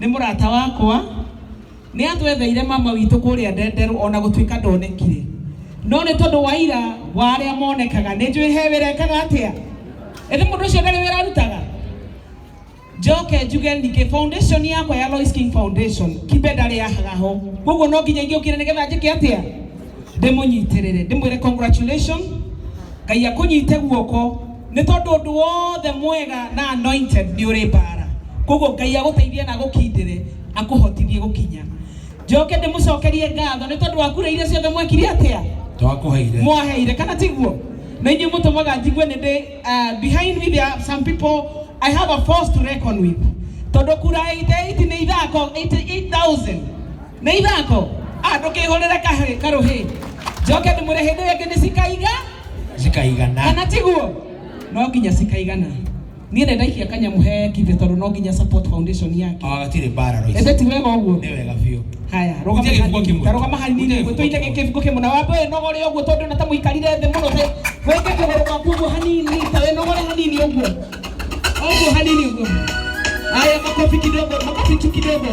nĩ mũrata wakwa nĩ atwetheire mama witũ kũrĩa ndenderũ ona gũtuĩka ndonekire no nĩ tondũ wa ira wa arĩa monekaga nĩ njũĩ he wĩra ekaga atĩa ĩndĩ mũndũ ũcio ndarĩ wĩra arutaga njoke njuge ningĩ foundation yakwa ya Lois King Foundation kimbe ndarĩ yahaga ho koguo no nginya ingĩũkire nĩgetha njĩke atĩa ndĩmũnyitĩrĩre ndĩmwĩre congratulation ngai akũnyite guoko nĩ tondũ ũndũ wothe mwega na anointed nĩ ũrĩ mbara koguo ngai agũteithie na agũkindĩre akũhotithie gũkinya njoke ndĩmũcokerie ngatho nĩ tondũ wa kura iria ciothe mwekire atĩa twakuheire mwaheire kana tiguo na inyuĩ mũtũmaga njigue nĩ ndĩ uh, behind me there are some people I have a force to reckon with tondu kura 88 ni ithako 88000 ni ithako ah ndukihurira kahri karuhi njoke ndimure hindi ringi ni cikaiga cikaigana kana tiguo no nginya cikaigana niä nä ndaikia kanyamu he kibä tondå no nginya support foundation yake agatirä mbara roici ä ti wega å guo nä wega biå haya Gũtirĩ rũgama kĩbungo hanini. kĩmwe. Ta rũgama hanini Gũtirĩ nĩguo kĩbungo tũitege kĩbungo kĩmwe na wambe wĩnogore ũguo tondũ na ta mũikarire thĩ mũno te wĩke kũgũrũ gwaku ũguo hanini ta wĩnogore hanini ũguo ũguo hanini ũguo haya makobi kidogo makobi tu kidogo